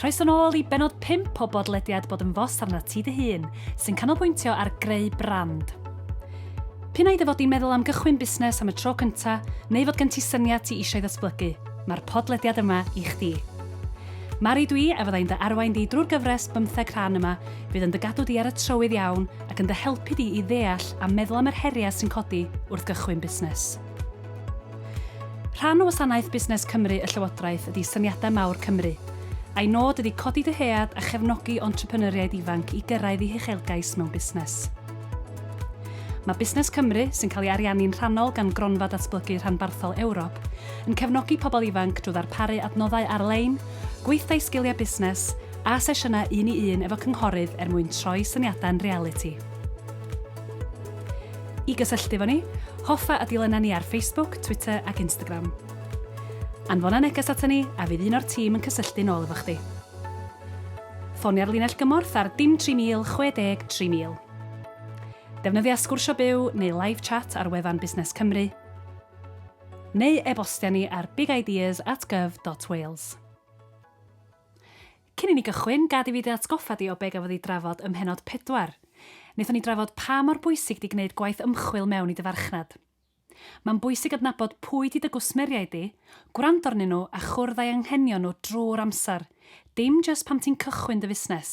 Croeso nôl i benod 5 o bodlediad Bod yn Fos arnat ti dy hun, sy'n canolbwyntio ar greu brand. P'un ai dy fod di'n meddwl am gychwyn busnes am y tro cynta, neu fod gen ti syniad ti eisiau ddatblygu, mae'r podlediad yma i chdi. Mari dwi a fyddai'n dy arwain di drwy'r gyfres bymtheg rhan yma fydd yn dy gadw di ar y trywydd iawn ac yn dy helpu di i ddeall a meddwl am yr heriau sy'n codi wrth gychwyn busnes. Rhan o wasanaeth Busnes Cymru y Llywodraeth ydy Syniadau Mawr Cymru. Ei nod ydy codi dyhead a chefnogi entrepreneuriaid ifanc i gyrraedd eu huchelgais mewn busnes. Mae Busnes Cymru, sy'n cael ei ariannu'n rhannol gan Gronfa Datblygu Rhanbarthol Ewrop, yn cefnogi pobl ifanc drwy ddarparu adnoddau ar-lein, gweithdai sgiliau busnes, a sesiynau un-i-un efo cynghorydd er mwyn troi syniadau'n realiti. I gysylltu efo ni, hoffa a dilyna ni ar Facebook, Twitter ac Instagram. Anfona neges aton ni a fydd un o'r tîm yn cysylltu'n ôl efo chdi. Ffonia'r linell gymorth ar dim 3000 60 3000. Defnyddia Sgwrsio Byw neu Live Chat ar wefan Busnes Cymru, neu e-bostia ni ar bigideas at gov dot wales. Cyn i ni gychwyn, gad i fi dy atgoffa di o be gafodd ei drafod ym mhennod pedwar. Wnaethon ni drafod pa mor bwysig di gwneud gwaith ymchwil mewn i dy farchnad. Mae'n bwysig adnabod pwy di dy gwsmeriaid di, gwrando arnyn nhw a chwrdd â'i anghenion nhw drwy'r amser, dim jyst pan ti'n cychwyn dy fusnes.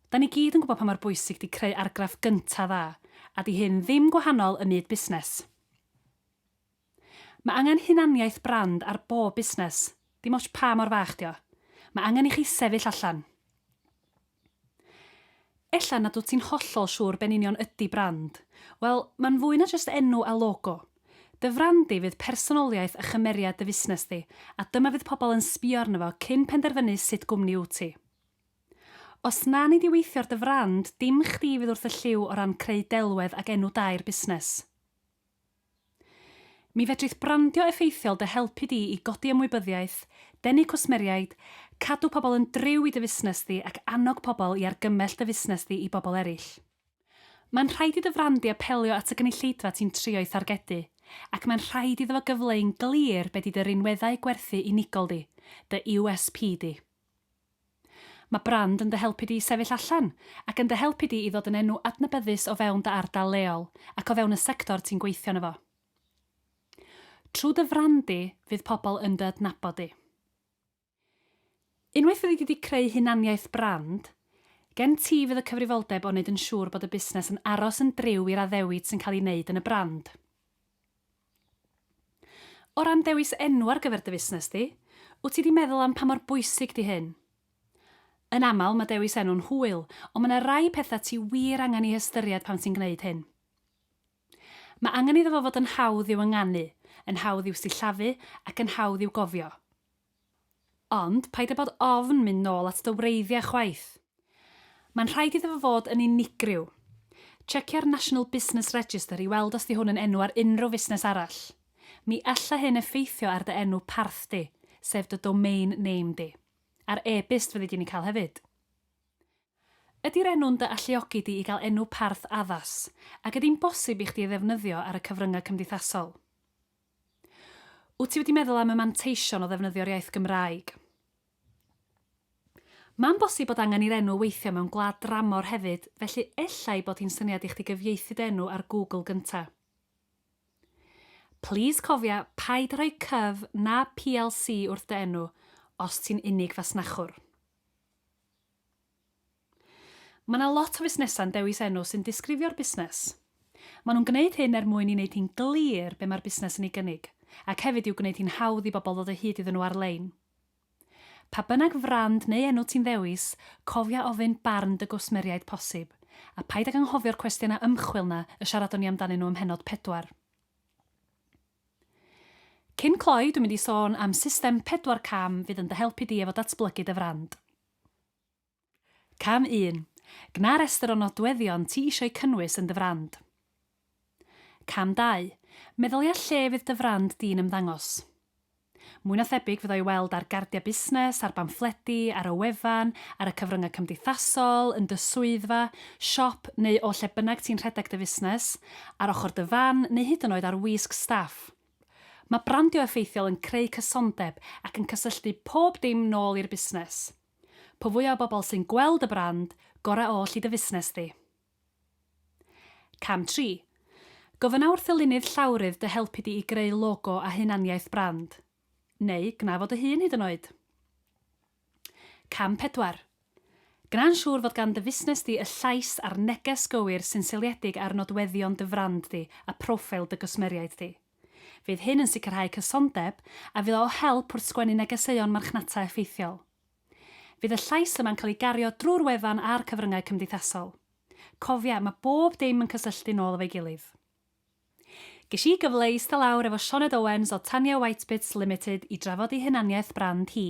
Da ni gyd yn gwybod pa mor bwysig di creu argraff gynta dda, a di hyn ddim gwahanol ym myd busnes. Mae angen hunaniaeth brand ar bob busnes, dim ots pa mor fach di o. Mae angen i chi sefyll allan. Ella nad wyt ti'n hollol siŵr be'n union ydi brand. Wel, mae'n fwy na jyst enw a logo. Dy frand di fydd personoliaeth a chymeriad dy fusnes di, a dyma fydd pobl yn sbio arno fo cyn penderfynu sut gwmni wyt ti. Os na nei di weithio ar dy frand, dim chdi fydd wrth y llyw o ran creu delwedd ac enw da i'r busnes. Mi fedrith brandio effeithiol dy helpu di i godi ymwybyddiaeth, denu cwsmeriaid, cadw pobl yn driw i dy fusnes di ac annog pobl i argymell dy fusnes di i bobl eraill. Mae'n rhaid i dy frand di apelio at y gynulleidfa ti'n trio'i thargedu, ac mae'n rhaid iddo fo gyfleu'n glir be di dy rinweddau gwerthu unigol di, dy USP di. Mae brand yn dy helpu di i sefyll allan, ac yn dy helpu di i ddod yn enw adnabyddus o fewn dy ardal leol ac o fewn y sector ti'n gweithio yno fo. Trwy dy frand di, fydd pobl yn dy adnabod di. Unwaith fyddi di di creu hunaniaeth brand, gen ti fydd y cyfrifoldeb o wneud yn siŵr bod y busnes yn aros yn driw i'r addewid sy'n cael ei wneud yn y brand. O ran dewis enw ar gyfer dy fusnes di, wyt ti 'di meddwl am pa mor bwysig 'di hyn? Yn aml, mae dewis enw'n hwyl, ond mae 'na rai pethau ti wir angen eu hystyried pan ti'n gwneud hyn. Mae angen iddo fo fod yn hawdd i'w ynganu, yn hawdd i'w sillafu ac yn hawdd i'w gofio. Ond paid â bod ofn mynd nôl at dy wreiddiau chwaith. Mae'n rhaid iddo fo fod yn unigryw. Tsecia-r National Business Register i weld os 'di hwn yn enw ar unrhyw fusnes arall. Mi alla hyn effeithio ar dy enw parth di, sef dy domain name di. A'r e-byst fyddi di'n ei cael hefyd. Ydi'r enw'n dy alluogi di i gael enw parth addas, ac ydi'n bosib i chdi ei ddefnyddio ar y cyfryngau cymdeithasol? Wyt ti wedi meddwl am y manteision o ddefnyddio'r iaith Gymraeg? Mae'n bosib bod angen i'r enw weithio mewn gwlad dramor hefyd, felly ella ei bod hi'n syniad i chdi gyfieithu dy enw ar Google gynta. Plis cofia paid â rhoi cyf na plc wrth dy enw os ti'n unig fasnachwr. Mae 'na lot o fusnesau'n dewis enw sy'n disgrifio'r busnes. Maen nhw'n gwneud hyn er mwyn i wneud hi'n glir be mae'r busnes yn ei gynnig, ac hefyd i'w gwneud hi'n hawdd i bobl ddod o hyd iddyn nhw ar-lein. Pa bynnag frand neu enw ti'n ddewis, cofia ofyn barn dy gwsmeriaid posib, a paid ag anghofio'r cwestiynau ymchwil 'na y siaradon ni amdanyn nhw ym mhennod pedwar. Cyn cloi, dwi'n mynd i sôn am system pedwar cam fydd yn dy helpu di efo datblygu dy frand. Cam 1. Gwna restr o nodweddion ti eisiau cynnwys yn dy frand. Cam 2. Meddylia lle fydd dy frand di'n ymddangos. Mwy na thebyg fydd o i weld ar gardiau busnes, ar bamffledi, ar y wefan, ar y cyfryngau cymdeithasol, yn dy swyddfa, siop neu o lle bynnag ti'n rhedeg dy fusnes, ar ochr dy fan neu hyd yn oed ar wisg staff. Mae brandio effeithiol yn creu cysondeb ac yn cysylltu pob dim nôl i'r busnes. Po fwy o bobl sy'n gweld y brand, gorau oll i dy fusnes di. Cam 3. Gofynna wrth ddylunydd llawrydd dy helpu di i greu logo a hunaniaeth brand. Neu gwna fo dy hun hyd yn oed. Cam pedwar. Gwna'n siŵr fod gan dy fusnes di y llais a'r neges gywir sy'n seiliedig ar nodweddion dy frand di a proffeil dy gwsmeriaid di. Fydd hyn yn sicrhau cysondeb a fydd o help wrth sgwennu negeseuon marchnata effeithiol. Fydd y llais yma'n cael ei gario drwy'r wefan a'r cyfryngau cymdeithasol. Cofia, mae bob dim yn cysylltu nôl efo'i gilydd. Ges i gyfle i ista lawr efo Sioned Owens o Tanya Whitebits Limited i drafod ei hunaniaeth brand hi.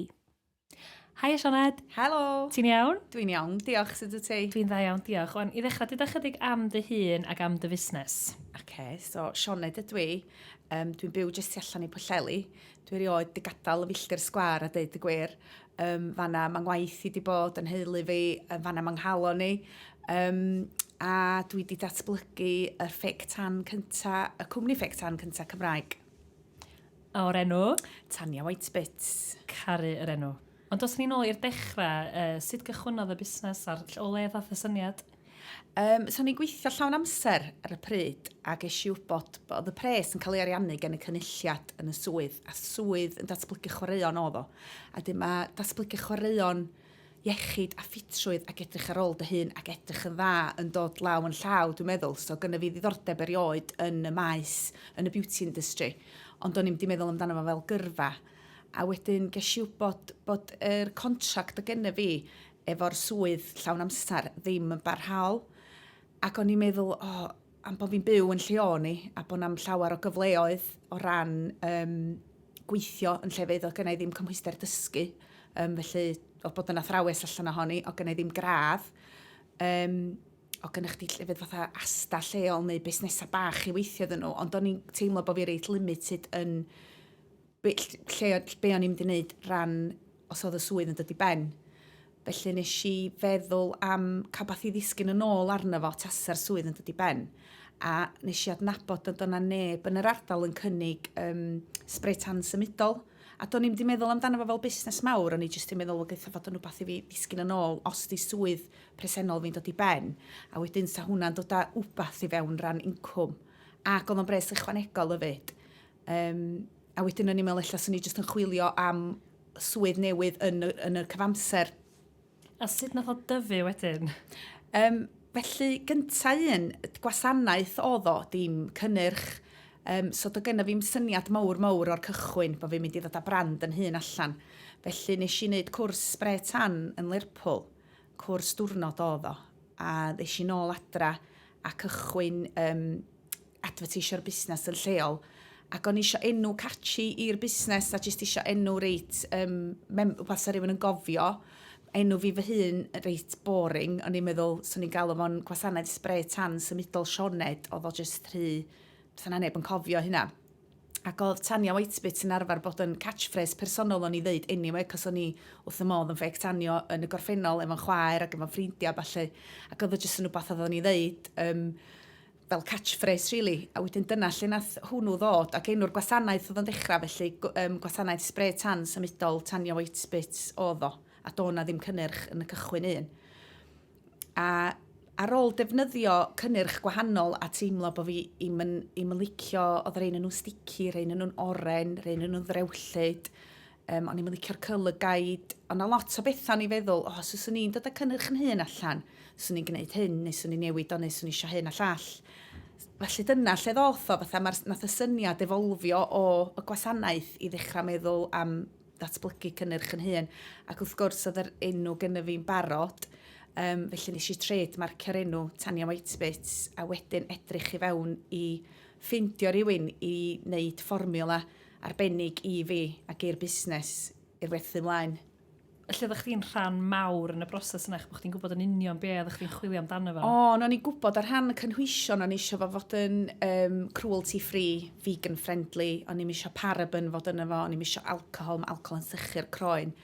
Haia Sioned! Helo! Ti'n iawn? Dwi'n iawn, diolch, sut wyt ti? Dwi'n dda iawn, diolch. Wan, i ddechrau, deuda chydig am dy hun ac am dy fusnes. Oce, so Sioned ydw i. Yym, dwi'n byw jyst tu allan i Pwllheli. Dwi erioed 'di gadael y filltir sgwâr a deud y gwir. Yym, fan 'na ma' 'ngwaith i 'di bod, 'yn nheulu fi, yy fan 'na ma' 'nghalon i. Yym, a dwi 'di datblygu y ffug tân cynta, y cwmni ffug tân cynta Cymraeg. A o'r enw? Tania White Bits. Caru yr enw. Ond os ni'n ôl i'r dechrau, uh, sut gychwynnodd y busnes a'r o le ddath y syniad? Um, so ni'n gweithio llawn amser ar y pryd a ges i wybod bod y pres yn cael ei ariannu gen y cynulliad yn y swydd a swydd yn datblygu chwaraeon oedd o. A dim mae datblygu chwaraeon iechyd a ffitrwydd ac edrych ar ôl dy hun ac edrych yn dda yn dod law yn llaw, dwi'n meddwl. So gyda fi ddiddordeb erioed yn y maes, yn y beauty industry, ond o'n i'n di meddwl amdano fo fel gyrfa. A wedyn ges i wybod bod yr contract o gennyf fi efo'r swydd llawn amser ddim yn barhaol. Ac o'n i'n meddwl, o, am bod fi'n byw yn lle o'n i, a bod na'm llawer o gyfleoedd o ran um, gweithio yn lle fydd o gynnau ddim cymhwyster dysgu. Um, felly, o bod yn athrawes allan ohoni, o gynnau ddim gradd. Um, o gynnau chdi llefydd fatha asta lleol neu busnesau bach i weithio ddyn nhw, ond o'n i'n teimlo bod fi reit limited yn be, lle, be o'n i'n mynd i wneud ran os oedd y swydd yn dod i ben. Felly nes i feddwl am cael beth i ddisgyn yn ôl arno fo tasa'r swydd yn dod i ben. A nes i adnabod nad o'na neb yn yr ardal yn cynnig um, spray tan symudol. A do'n i'n mynd i meddwl amdano fo fel busnes mawr, o'n i jyst i'n meddwl o gaetha fod yn rhywbeth i fi ddisgyn yn ôl os di swydd presennol fi'n dod i ben. A wedyn sa hwnna'n dod â wbath i fewn ran incwm. Ac oedd o'n bres ychwanegol fyd. Um, a wedyn o'n i'n meddwl, ella, swn i jyst yn chwilio am swydd newydd yn y, yn y cyfamser. A sut nath o dyfu wedyn? Um, felly, gyntaf un, gwasanaeth o ddo, dim cynnyrch. Um, so do genna fi'n syniad mawr mawr o'r cychwyn bod fi'n mynd i ddod â brand yn hun allan. Felly nes i wneud cwrs spre tan yn Lerpwl, cwrs diwrnod o ddo. A nes i nôl adra a cychwyn um, adfyrteisio'r busnes yn lleol ac o'n i isio enw catchy i'r busnes a jyst isio enw reit, um, mem- wbeth sa rhywun yn gofio. Enw fi fy hun reit boring, o'n i'n meddwl, so ni'n galw fo'n gwasanaeth spre tan symudol Sioned, oedd o jyst rhy, sa na neb yn cofio hynna. Ac oedd Tania Whitebit yn arfer bod yn catchphrase personol o'n i ddeud anyway, cos o'n i wrth y modd yn ffeg tanio yn y gorffennol efo'n chwaer ac efo'n ffrindiau a falle. Ac oedd o jyst yn rhywbeth oedd o'n i ddeud, um, fel catchphrase rili really. a wedyn dyna lle nath hwnnw ddod ac enw'r gwasanaeth oedd o'n ddechrau felly um, gwasanaeth spray tan symudol tanio white spits oedd o a do na ddim cynnyrch yn y cychwyn un a ar ôl defnyddio cynnyrch gwahanol a teimlo bod fi i'm yn, im yn licio oedd rhain yn nhw'n sticky, rhain yn nhw'n oren, rhain yn nhw'n ddrewllyd Um, o'n i'n licio'r colour guide, ond a lot o bethau o'n i'n feddwl, o, oh, os yswn i'n dod â cynnyrch yn hun allan, swn i'n gwneud hyn, neu swn i'n newid o, neu swn i eisiau hyn a llall. Felly dyna lle ddoth o, fatha mae'r nath y syniad efolfio o y gwasanaeth i ddechrau meddwl am datblygu cynnyrch yn hun. Ac wrth gwrs, oedd yr enw gen i fi'n barod, um, felly nes i tred marcio'r enw Tania Whitebit, a wedyn edrych i fewn i ffeindio rhywun i wneud fformiwla arbennig i fi ac i'r busnes i'r werthu mlaen. Felly oeddach chdi'n rhan mawr yn y broses yna, bod chdi'n gwybod yn union be oeddach chdi'n chwilio amdano fo? O, o'n i'n gwybod ar rhan y cynhwysion, o'n eisiau fo fod yn um, cruelty free, vegan friendly, o'n i'n eisiau paraben fod yna fo, o'n i'n eisiau alcohol, mae alcohol yn sychu'r croen.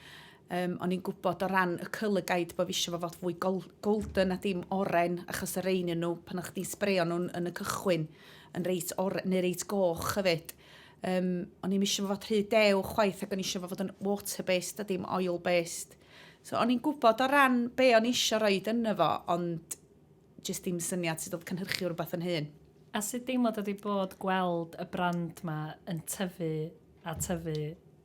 Um, o'n i'n gwybod o ran y cylygaid bod fi eisiau fo fod fwy golden a dim oren, achos y rein nhw, pan o'ch chdi'n sbreio nhw'n yn y cychwyn, yn reit oren, neu reit goch hefyd. Yym o'n i'm isio fo fod rhy dew chwaith ac o'n i isio fo fod yn water based a dim oil based. So o'n i'n gwybod o ran be o'n i isio roed yno fo ond jyst dim syniad sut oedd cynhyrchu rhywbeth yn hyn. A sut deimlad ydi bod gweld y brand 'ma yn tyfu a tyfu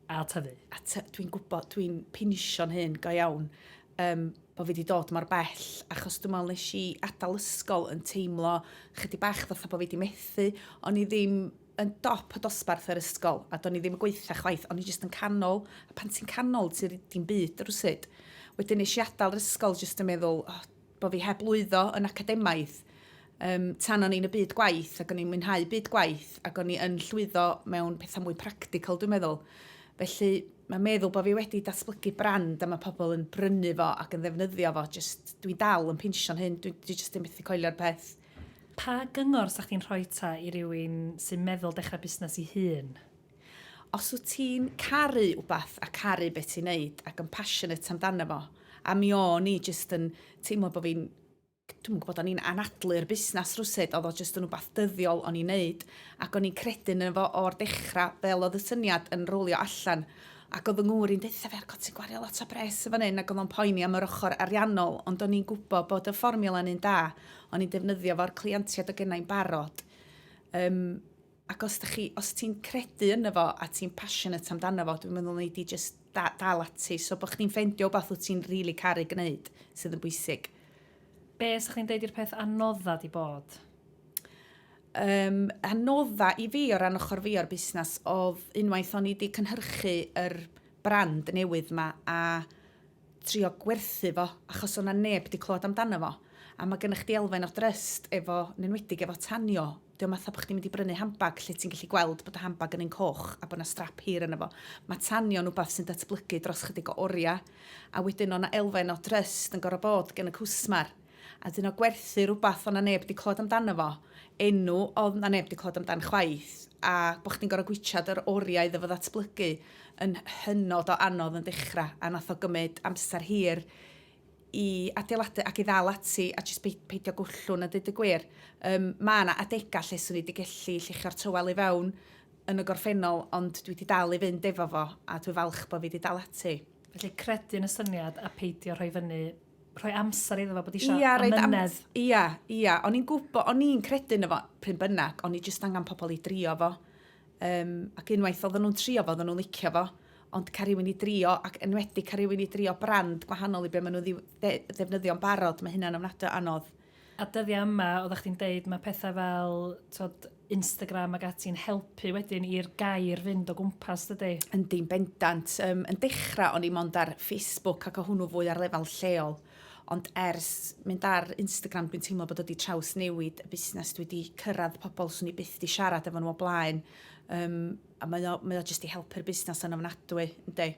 a tyfu? A ty- dwi'n gwybod dwi'n pinishio'n hun go iawn um, bod fi wedi dod mor bell, achos dwi'n meddwl nes i adael ysgol yn teimlo chydig bach fatha bod fi wedi methu. O'n i ddim yn dop y dosbarth yr ysgol, a do'n i ddim yn gweitha chwaith, o'n i jyst yn canol, a pan ti'n canol, ti'n ddim byd rhywsyd. Wedyn nes i adael yr ysgol jyst yn meddwl, oh, bod fi heb lwyddo yn academaidd, Yym, tan o'n i'n y byd gwaith, ac o'n i'n mwynhau byd gwaith, ac o'n i yn llwyddo mewn pethau mwy practical, dwi'n meddwl. Felly, mae meddwl bod fi wedi datblygu brand a mae pobl yn brynu fo ac yn ddefnyddio fo, just, dwi'n dal yn pinsio'n hyn, dwi'n dwi just yn methu coelio'r peth. Pa gyngor sa'ch ti'n rhoi ta i rywun sy'n meddwl dechrau busnes i hun? Os wyt ti'n caru wbath a caru beth ti'n neud ac yn passionate amdano fo, a mi o'n i jyst yn teimlo bod fi'n Dwi'm yn gwybod, o'n i'n anadlu'r busnes rywsut, oedd o jyst yn rhywbeth dyddiol o'n i'n wneud, ac o'n i'n credu ynddo fo o'r dechrau, fel oedd y syniad yn rowlio allan. Ac oedd fy ngŵr i'n deutha fi, 'God, ti'n gwario lot o bres yn fan hyn, ac oedd o'n poeni am yr ochr ariannol, ond o'n i'n gwybod bod y fformiwla'n un da, o'n i'n defnyddio fo'r cleientiaid oedd gennai'n barod. Yym. ac os da chi, os ti'n credu yno fo a ti'n passionate amdano fo, dwi'n meddwl nei di just da, dal ati. So bod chdi'n ffendio beth wyt ti'n rili really caru gwneud sydd yn bwysig. Be ysych chdi'n deud i'r peth anodda di bod? Um, anodda i fi o ran ochr fi o'r busnes oedd unwaith o'n i wedi cynhyrchu yr er brand newydd yma a trio gwerthu fo achos o'na neb wedi clywed amdano fo. A mae gennych chdi elfen o dryst efo, yn enwedig efo tanio, Dio ddim fatha bod chdi'n mynd i brynu handbag lle ti'n gallu gweld bod y handbag yn un coch a bod yna strap hir yna fo. Mae tanio'n wbath sy'n datblygu dros chydig o oriau, a wedyn o' 'na elfen o drust yn gorfod bod gen y cwsmer. A wedyn o gwerthu rwbath o' 'na neb 'di clywed amdano fo, enw oedd 'na neb 'di clywed amdan chwaith, a bod chdi'n gorfod gwitsiad yr oriau iddo fo ddatblygu yn hynod o anodd yn dechrau, a nath o gymryd amser hir i adeiladu ac i ddal ati a jyst peidio gwllwng a dweud y gwir. Um, mae yna adegau lle swn i wedi gallu llichio'r tywel i fewn yn y gorffennol, ond dwi wedi dal i fynd efo fo, a dwi falch bod fi wedi dal ati. Felly credu yn y syniad a peidio rhoi fyny rhoi amser iddo fo bod eisiau ia, amynedd. Ia, ia. O'n i'n gwybod, o'n i'n credu yn efo pryn bynnag, o'n i jyst angen pobl i drio fo. Um, ac unwaith oedden nhw'n trio fo, oedden nhw'n licio fo, ond cael rhywun i drio, ac enwedig cael rhywun i drio brand gwahanol i be maen nhw ddefnyddio'n barod, mae hynna'n ofnadwy anodd. A dyddiau yma, oeddech chdi'n deud, mae pethau fel tod, Instagram ac ati'n helpu wedyn i'r gair fynd o gwmpas, dydy? Yn dim bendant. Um, yn dechrau, o'n i mond ar Facebook ac o hwnnw fwy ar lefel lleol. Ond ers mynd ar Instagram dwi'n teimlo bod o 'di trawsnewid y busnes, dwi 'di cyrraedd pobl 'swn i byth 'di siarad efo nhw o blaen, yym, a mae o mae o jyst 'di helpu'r busnes yn ofnadwy, yndi.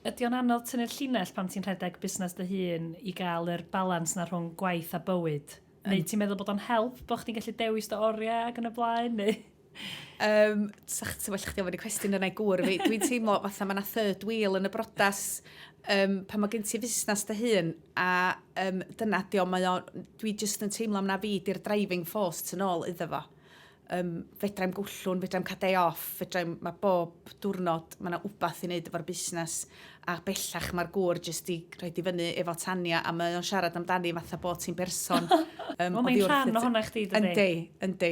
Ydy o'n anodd tynnu'r llinell pan ti'n rhedeg busnes dy hun i gael yr balans 'na rhwng gwaith a bywyd? Neu ti'n meddwl bod o'n help bod chdi'n gallu dewis dy oriau ac yn y blaen, neu...? Um, sa'ch ti'n well chdi ofyn y cwestiwn yna i gwr. Dwi'n teimlo fatha mae yna third wheel yn y brodas um, pan mae gen ti fusnes dy hun a um, dyna di o, mae o, dwi jyst yn teimlo am na fi di'r driving force tyn ôl iddo fo. Um, fedrai'm gwllwn, fedrai'm cael day off, fedrai'm, mae bob diwrnod, mae yna wbath i wneud efo'r busnes a bellach mae'r gŵr jyst i rhoi di fyny efo Tania a mae o'n siarad amdani fatha bod ti'n berson. Um, well, mae'n rhan o hwnna chdi, dydy? Yndi, yndi.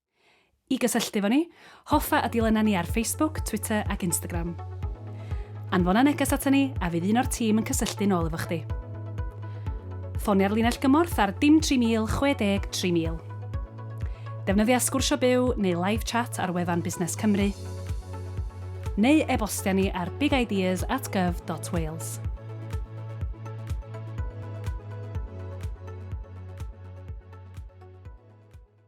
I gysylltu efo ni, hoffa a dilyna ni ar Facebook, Twitter ac Instagram. Anfona neges aton ni a fydd un o'r tîm yn cysylltu'n ôl efo chdi. Ffonia'r linell gymorth ar dim 3000 60 3000. Defnyddia Sgwrsio Byw neu Live Chat ar wefan Busnes Cymru, neu e-bostia ni ar bigideas at gov dot wales.